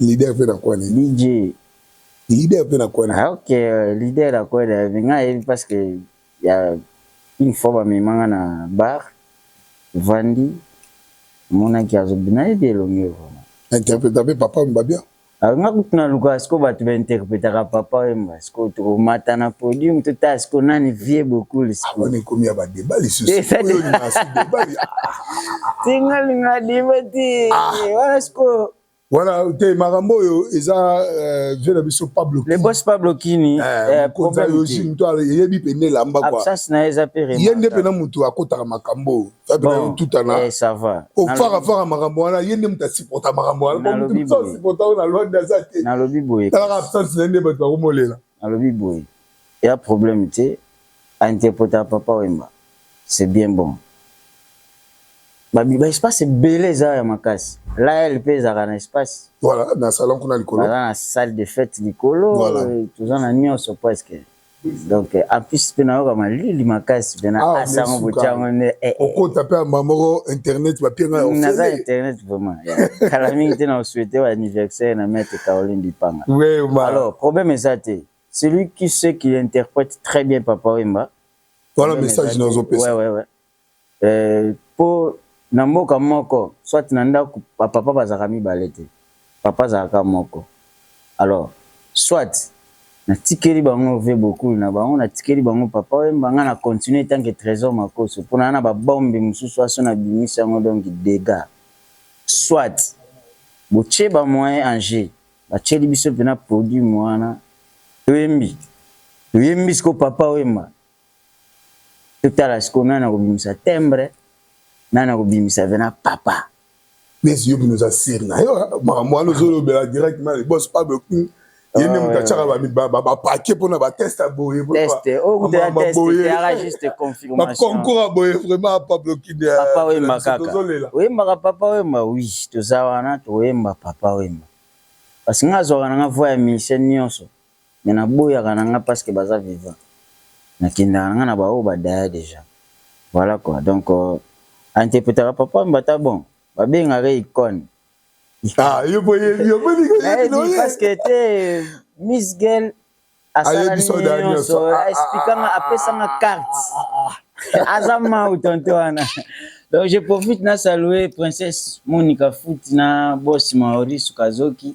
leader mpe na kwane dj leader mpe na kwane ah, ok leader na kwane mais ngai ayebi parce que ya une fois bamema ngai na bar vandi monaki azobi nayebi elongi vraimen interpreta mpe papa mbabia ah, ngai kutu nalukaka siko bato bainterpretaka papa wemba sikoyo tokomata na podium totala sikoyo nani vie bokuli sikoyo ekomi ya badeba lisusutingalinga diba ti wana sikoyo wana te makambo oyo eza eh, vie na biso pablo le boss pablo kini mokonzi eh, eh, yoji moto eyebi mpe nde elamba ye nde mpe na moto akotaka makambo oyo faible na yo tutana eh, ça va ofaka faka makambo wana ye nde moto asupporta makambo wana moto asupporta oyo na lwande aza te nalobi boye talaka absence na ye nde bato bakomolela nalobi boye ya problème te ainterpreta papa wemba c'est bien bon baespace ebele eza ya makasi lael mpe ezalaka na espace voilà na salon kuna likolo baza na salle de fête likolo toza na nyonso presque donc en plus mpe nayoka malili makasi mpe na ah, asa yango botya yango nde eh, eh. okota mpe amba moko internet bapie ngai ofele naza internet vraiment kala mingi te na osouete ba anniversaire na maître caroline lipanga alors problème eza te celui qui sait qu'il interprète très bien papa wemba voilà message nazopesa ouais, ouais, ouais. po na mboka moko soit na ndaku ba papa bazalaka mibale te papa azalaka kaka moko alors soit na tikeli bango vieux bokul na bango na tikeli bango papa wemba nga na continuer etant que tresor makoso po naza na ba bombe mususu awa soki na bimisi yango donc degat soit bo tie ba moyen en jeu ba tieli biso pena produit muana to yembi to yembi sikoyo papa wemba Totala sikoyo nani akobimisa timbre, nani akobimisa vena papa. Blaise yo bino oza sur na yo makambo wana ozolobela direct na boss Pablo King ye nde moto atyaka bapake mpona bateste ya boye baconcour ya boye vraiment Pablo King tozolela oyembaka papa oyemba wi toza wana tokoyemba papa oyemba parce nga azwaka na nga voi ya musicien nyonso mais na boyaka na nga pasque baza vivant na kendaka na nga na ba oyo ba daya dejà voila quoi donc a interpretaka papa wemba ata bon ba bengaka ye icone ah yo po yebi yo pe niko yebi no ye parce que te miss girl asala nyonso a expliquer nga apesa nga carte aza mau tonto wana Donc je profite na saluer princesse Monica Foot na boss Maurice Kazoki.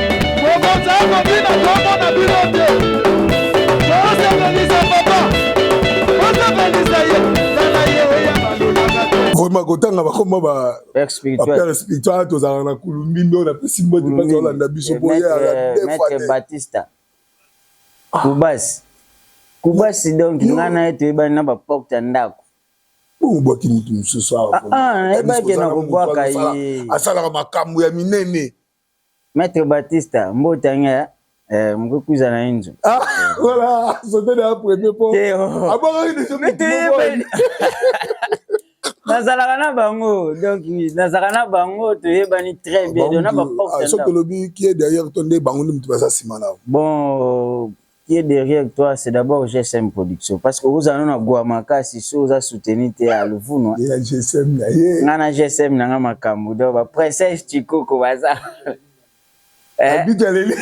vraiment kotanga bakoma bapere spiritual tozalaka na kulumbi nde oyo napesi mbote mpasi olanda biso boyebatista kubasi kubasi donk ngai na ye toyebani na baporte ya ndako obwaki motu mosusu awa nayebaki na kobwaka ye asalaka makambo ya minene Maitre Batista, mbota nga eh, mkukuza na inzo. Ah, voilà, sauter na premier po. Te, oh. Abangaki deja Mais mutu te moko. yebani. nazalaka na bango donc nazalaka na bango toyebani très bien donc na Bango, ah, baporte soki ndako tolobi qui est derrière to nde bango nde moto baza nsima na yo bon Qui est derrière toi c'est d'abord GSM production parce que okozala na gwa makasi so oza soutenu te ya luvunwa ya GSM na ye nga na GSM na nga makambu donc ba princesse chikoko baza abitaleli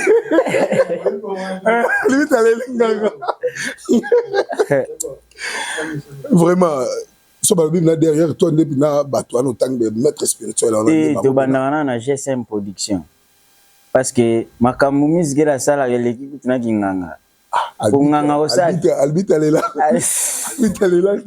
abitaleli nganga vraiment so balobi na derrière toi nde mpina bato wana otangi maître spirituel wana tobandaka na na gsm production parce que makambu miss gela asalaka eleki kutu na kinganga ah, konganga osali albite alela albite alela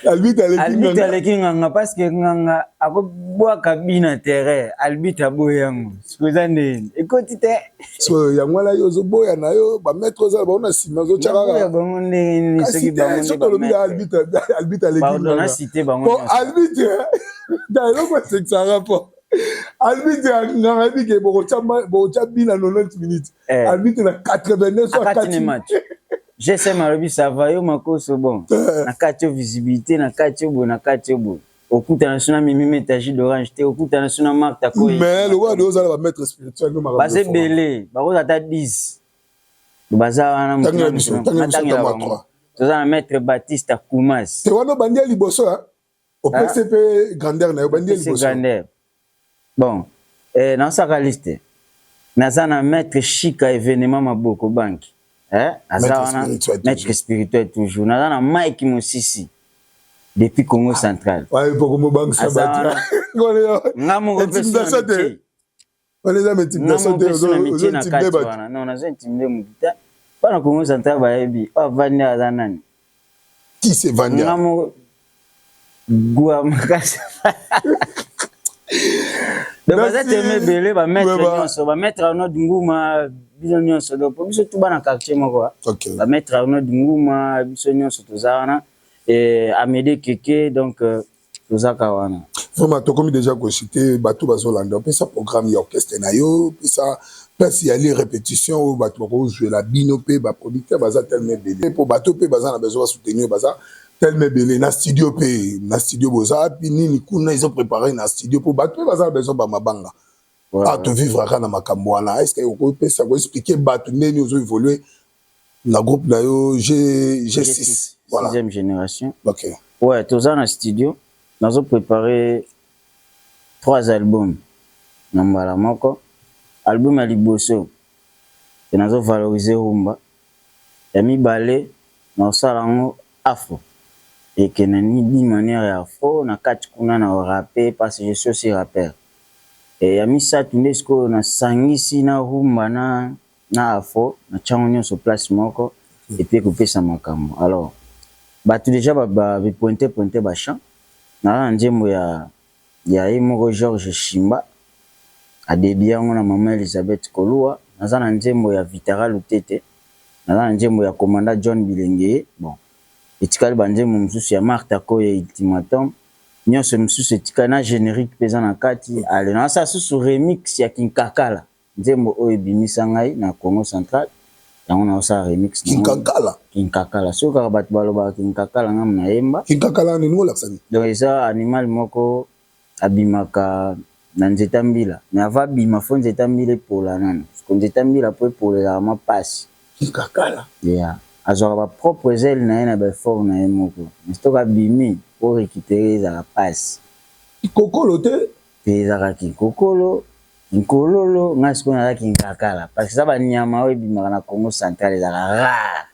albite aleki nganga parce que nganga akobwaka bi na terrain albite aboyi yango siko eza nde ekoti te so yango wana yo ozoboya na yo bamaître oza bango na nsima ozotyakaka bango ndenge nini soki bango soki olobi na albite aleki nganga po albite da eloko asekisaka po arbitre ya nganga yebi ke bokotya bi na 90 minutes eh. arbitre na 89 so akati match gsm alobi sava yo makoso bon eh. na kati yo visibilité na kati yo boye na kati yo boye okutana so na mimi meta jus d'orange te okutana so na marta koye mais lokola de ozala bamaître spirituel baza ebele bakoza ata 10 baza wana motangelatoza na maître baptiste akumas te wana obandi ya liboso opesi mpe grandeur na yo bandi liboso bon eh, naosaka liste naza na maître shika événement maboko banki eh, aza wana maître spirituel toujours naza na mike mosisi depuis congo central nga moko mpe wana eza multiplication te ozo intimide bato non nazo intimide motu te bana kongo central bayebi oyo avandi aza nani qui se vandi nga moko gua makasi donc baza teme ebele bamaître nyonso bamaître arnold nguma bino nyonso donc po biso tuba na quartier moko bamaître arnold nguma biso nyonso toza wana amede keke donc euh, toza ka wana. Vraiment tokomi dejà ko excite batu bazo landa pesa programme ya orchestre na yo pesa place ya li repetition oyo batu bako zuela bino pe ba producteur baza tellement ebele po batu pe baza na besoin ba soutenir baza tellement ebele na studio pe na studio boza wapi nini kuna ezo preparer na studio po batu pe baza na besoin ba mabanga awa to vivre aka na makambo wana est ce que oko pesa ko expliquer batu ndenge nini ozo evoluer Na groupe na yo G6. Voilà. Sixième generation. Ok. Ouais, toza na studio. Nazo preparer trois albums na mbala moko. Album ya liboso e nazo valoriser rumba. Ya mibale na osala yango afro. Et que na ni d'une manière ya afro na kati kuna na rapper parce que je suis aussi rappeur. Et ya misato nde sikoyo na sangisi na rumba na na afro natia yango nionso place moko et puis ekopesa makambo alors batu dejà ba ba pointe pointe ba chant naza na nzembo ya ya ye moko Georges Shimba a dedie yango na maman Elisabeth Koluwa naza na nzembo ya Vitara Lutete naza na nzembo ya commanda John Bilengeye bon etikali ba nzembo mususu ya Martha Koye Ultimatum nionso misusu etikali na generique pe eza na kati ale naza sala susu remix ya Kinkakala Nzembo oyo ebimisa ngai na Kongo central yango nazo sala remix na ngo. Kinkakala. Kinkakala soki kaka batu balobaka kinkakala nga muna yemba. Kinkakala wana olingi olakisa nini? Donc eza animal moko abimaka na nzeta mbila mais avant abima faut nzeta mbila epola nanu siko nzeta mbila po epola ezalaka mwa pasi. Kinkakala. Yeah. Azwaka ba propre ailes na ye na ba effort na ye moko mais soki abimi po recuperer ezalaka pasi. Kikokolo te? Pe eza kaka kinkokolo, kinkololo, ngai sikoyo naza kinkakala parce que eza ba nyama oyo ebimaka na Kongo central ezalaka rare.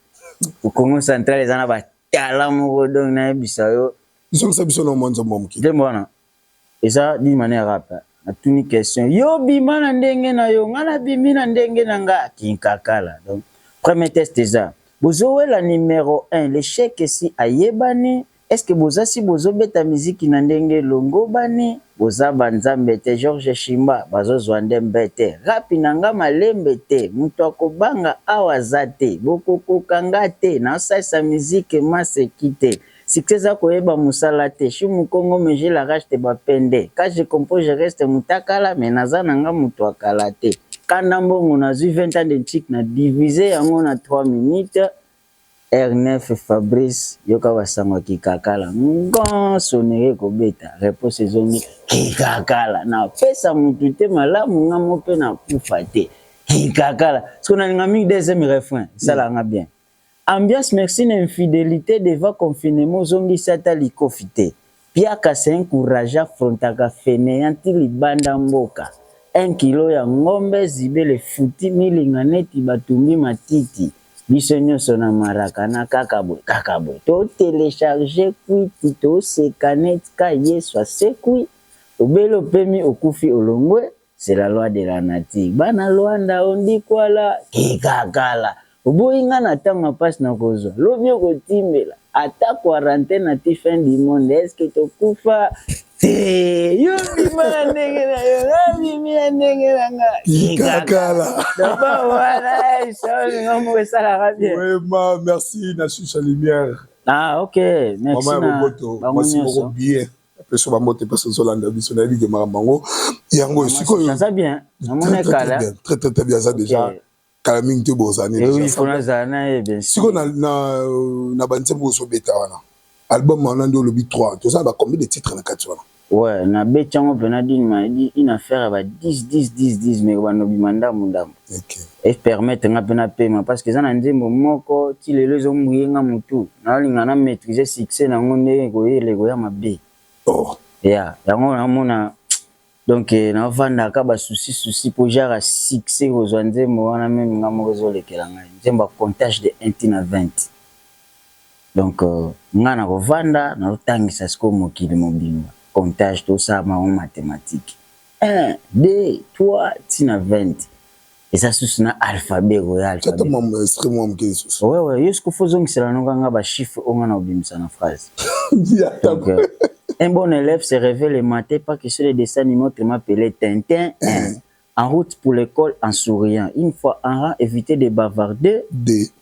Po Kongo central eza na ba talents moko donc nayebisa yo. Zongisa biso na mwa nzembo ya moke. Nzembo wana eza d'une manière rap hein. Natuni question, yo obima na ndenge na yo, ngai nabimi na ndenge na nga, kinkakala. Donc premier test eza, bozowela numero un, l'echec esi ayebani, Est-ce que boza si bozo beta miziki na ndenge elongobani? Boza ba nzambe te George Shimba bazo zua nde mbete. Rap na nga malembe te mutu ako banga awa aza te boko koka nga te nao salisa miziki masse ki te succès eza ko yeba musala te suis mukongo mais j'ai la rage te ba pende quand je compose je reste mutakala mais naza na nga mutu ya kala te. Kanda mbongo nazui 20 ans de nchik na divise yango na 3 minutes Heure neuf Fabrice yoka ba sango ya kikakala ngoo sonnerie ekobeta reponse ezongi kikakala na pesa mutu te malamu nga mo pe na kufa te kikakala sikoyo na linga mingi deuxième refrain esalaka nga bien ambiance merci na infidelite devant confinement ozongisi ata likofi te Piaka c'est un courage afrontaka feneant ti libanda mboka un kilo ya ngombe zibele futi milinga neti ba tumbi matiti biso nioso na maracana kaka boye kaka boye to telecharge kwiti to seka net ka yesu asekwi obeli opemi okufi olongwe C'est la loi de la nature. Bana Luanda ondikwala kikakala. Oboyi nga na tango ya pasi na kozwa. Lobi okotimbela. Ata quarantaine ati fin du monde. Est-ce que tokufa? Te! Yo bima na ndenge na yo. Nga bimi na ndenge na nga. Kikakala. Doba wana eh, Shaul nga moko esalaka bien. Oui, ma, merci na Susa Lumière. Ah, ok. Merci Maman ya na Boboto, bango mwasi moko nyonso. bien. Napesi yo bambote mpe soki ozolanda biso nayebi ke makambo yango yango oyo sikoyo bien aza bien kala mingi te bozala nde sikoyo na banzembo ozobeta wana album wana nde olobi 3 toza na ba combien de titre na kati wana Ouais, na beti yango mpena dini ma edi une affaire ya ba 10 10 10 10 mais kobanda obima ndambu ndambu. e permettre nga pe na pema parce que eza na nzembo moko ti lelo ezo mouiller nga mutu nazo linga na maitriser succès na ngo ndenge eko yela eko ya mabe ya yango nazo mona donc nazo fanda aka ba soucis soucis po genre ya succès ko zua nzembo wana meme nga moko ezo lekela ngai nzembo ya comptage de un ti na 20 donc nga nako fanda nazo tangisa sikoyo mokili mobimba comptage to sala bango mathematique 1 2 3 ti na 20 eza susu na alphabet royal tata mamu ya esprit mwa moke lisusu ouais ouais yo sikoyo fozongisela noka nga ba chiffre oyo nga na obimisa na phrase donc euh, un bon élève se réveille le matin pas que sur le dessin animé autrement appelé Tintin en route pour l'école en souriant une fois en rang éviter de bavarder de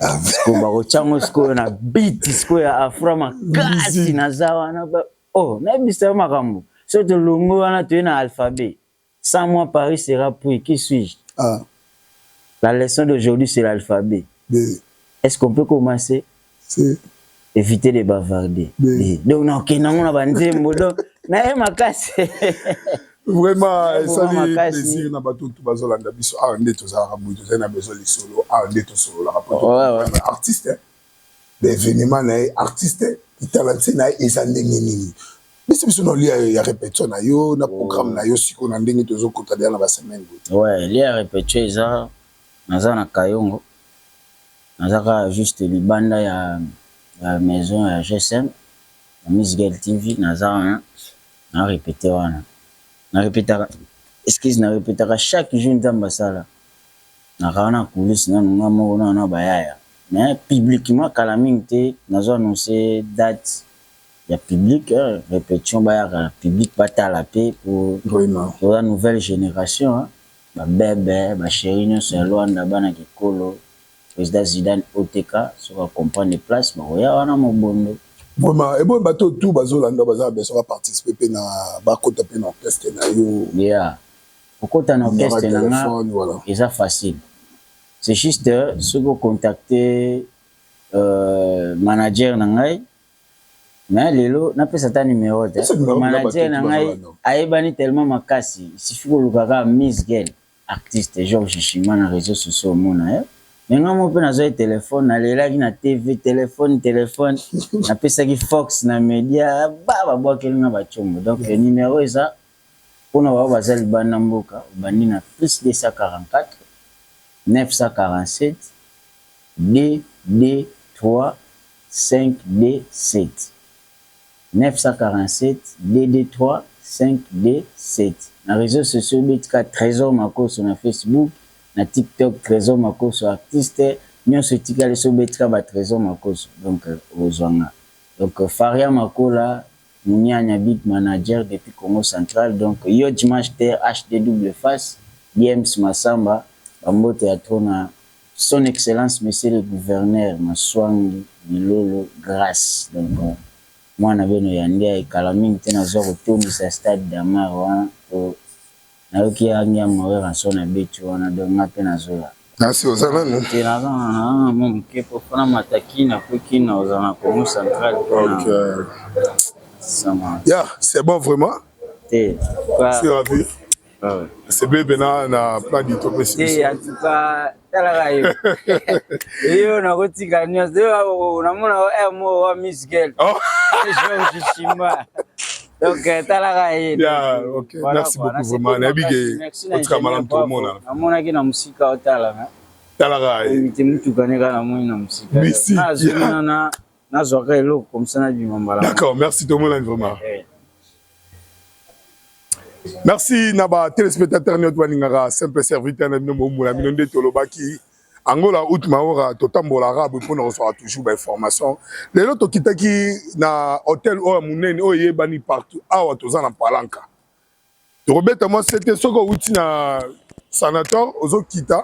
ah, sikoyo bakotya ngo sikoyo na biti sikoyo ya afra makasi naza wana o oh, nayebisa yo makambo soki tolongwe wana toye na alphabet sans moi paris sera pris qui suis-je ah. la leçon d'aujourd'hui c'est l'alphabet est ce qu'on peut commencer Eviter les bavarder. Oui. Donc na okenda ngo na ba nzembo donc na ye makasi. Vraiment esali plaisir na bato tout bazolanda biso awa nde tozalaka boye tozali na besoin lisolo awa nde tosololaka po artiste baevenement na ye artiste kitalante na ye eza ndenge nini biso biso naolia ya repetition na yo na programme na yo sikoyo na ndenge tozokota deya na basemaine boye lia ya repetition eza naza na kayongo Naza kaka juste libanda ya maison ya GSM na Miss Guel TV naza wana na repeter wana na repetaka excuse na repetaka chaque jour Nzambe asala naka wana coulisse nanu nga moko nanu na bayaya mais publiquement kala mingi te nazo annonce date ya public repetition bayaka na public batala pe po toza nouvelle generation. Ba bebe, ba cherie nionso ya Luanda bana kikolo president Zidane OTK soki a comprendre place bakoya wana mobondo. Vraiment ebongo batu oyo tout bazo landa yo baza na besoin ba participer pe na ba kota pe na orchestre nayo. Yeah ko kota na orchestre na nga eza facile c'est juste soki o contacter manager na ngai. Mais lelo napesa ata numero te. Pesa numero po manager na batutu ngai baza wana. ayebani tellement makasi il suffit koluka kaka miss gel artiste Georges shima na reseaux sociaux omona ye mais ngai moko pe nazua ye telephone nalelaki na TV telephone telephone napesaki fox na media ba babuakeli ngai ba tshombo donc numero eza Pona baoyo baza libanda mboka obandi na plus 244 947 22357 947 22357 na reseaux sociaux betika Tresor Makosso na Facebook na tiktok Tresor Makosso artiste nionso etikali soki obetika ba Tresor Makosso donc okozua nga donc Faria Makola Muniania big manager depuis Kongo central donc yo Djmash ter HD double face Diems Massamba ba mbote ya trop na son excellence monsieur le gouverneur Masuangi Bilolo Grace donc muana bino ya Ndiaye kala mingi te nazua kotondisa stade d'Amar wana po Nayoki ya niama werra son abeti wana donc nga pe nazoya. Nasi oza nanu? Te naza na mwa muke po po na mata kin apres kin na kozala na Congo central po na sama. Ya c'est bon vraiment? Te pa. Sur avis? Nasepeli pena na plan du topesi biso. Te en tout cas. talaka yo yo nakotika nyonso yo namona eh, mo wa miskel oh. shimba donc eh, talaka ye merci beaucoup vraiment nayebi ke otika malamu tokomona namonaki na mosika otala talaka ye motuka ne kaka namoni na mosika nazwaka eloko komisa na bima mbala d'accord merci tomonani vraiment eh. merci na ba téléspectateurs nioto balingaka simple serviteur na bino bombola bino nde tolobaki angola out maora totambola arabe mpo na kozwaka toujours bainformation lelo tokitaki na hotel oyo ya monene oyo eyebani partout awa toza na palanka tokobeta mwa sete soki owuti na sanator ozokita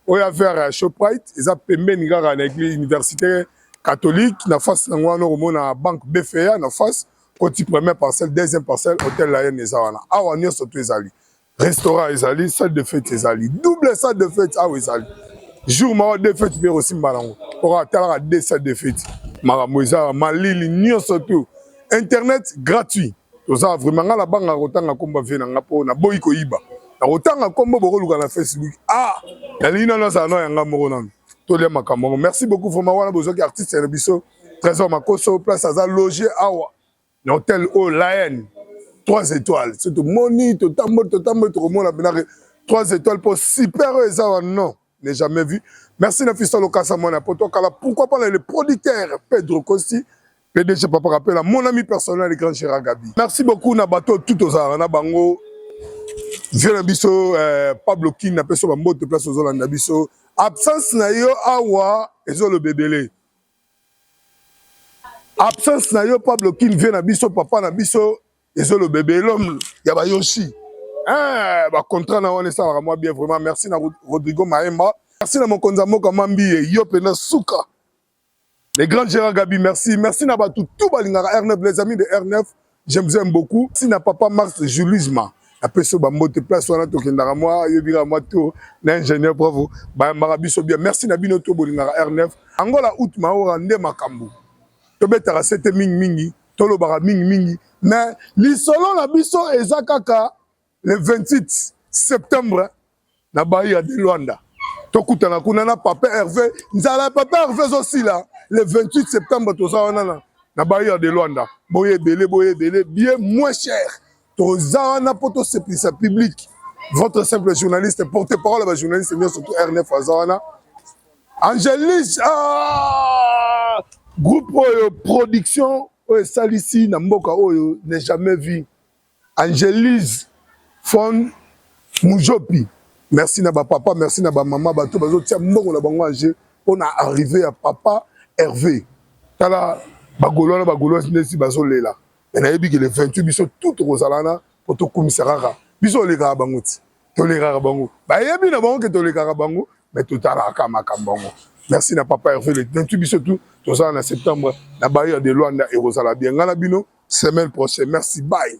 oya vers ya shoprite eza pembeni kaka na eglise université catholique na face nango wana okomona banque bfa na face koti première parcelle deuxième parcelle hôtel la haine eza wana awa nyonso to ezali restaurant ezali salle de fete ezali double salle de fete awa ezali jour mawa de fete mpe ekosimba nango okatalaka de salle de fete makambo eza malili nyonso to internet gratuit toza vraiment nga na banga kotanga kombo vie na nga po na boyi koyiba na kotanga kombo bokoluka na facebook ah nalingi nano azala no yanga moko nano tolia makambo yango merci beaucoup vraiment wana bozwaki artiste ya biso trésor makoso place aza loge awa na hotel oyo laene trois étoiles so tomoni totamboli totamboli tokomona benake trois étoiles po super oyo eza wa non ne jamais vu merci na fista lokasa mwana poto kala pourquoi pas le producteur pedro costi pdg papa kapela mon ami personnel grand gérard gabi merci beaucoup na bato tout ozalaka na bango vie na biso eh, pablo king na peso bambote place ozolanda biso absence na yo awa ezoloba ebele absence na yo pablo king vie na biso papa na biso ezoloba ebelom ya bayoshi eh, bacontra na wana esalaka mwa bien vraiment merci na rodrigo maemba merci na mokonzi ya mboka mambiye yo mpenza suka le grand gérard gabi merci merci na bato tu balingaka r9 les amis de r9 j'aime vous aime beaucoup si na papa mars julisma apesi yo bambote place wana tokendaka mwa yo bingaka mwa tour na ingénieur bravo bayambaka biso bien merci na bino to bolingaka r9 angola out maora nde makambo tobetaka sete mingimingi tolobaka mingi mingi mais lisolo na biso eza kaka le 28 septembre na bayi ya Luanda tokutana kuna na papa Hervé nzala ya papa Hervé ezosila le 28 septembre toza wana na na bayi ya Luanda boye ebele boye ebele bien moins cher toza wana mpo tosepelisa publike votre simple journaliste porte parole ya bajournaliste nyonso to rnf aza wana angelis ah! groupe oyo production oyo esalisi na mboka oyo ne jamais vu angelise fon mujopi merci na bapapa merci na bamama bato bazotia mbongo na bango age mpo na arrive ya papa herve tala bagolo wana bagolo nesi bazolela mais nayebi ke le 28 biso tout tokozala na po tokumisa kaka biso olekaka bango ti tolekaka bango bayebi na bango ke tolekaka bango mais totalaka makambo yango merci na papa herve le 28 biso tout tozala na septembre na bayer de luanda ekozala bien ngai na bino semaine prochaine merci bye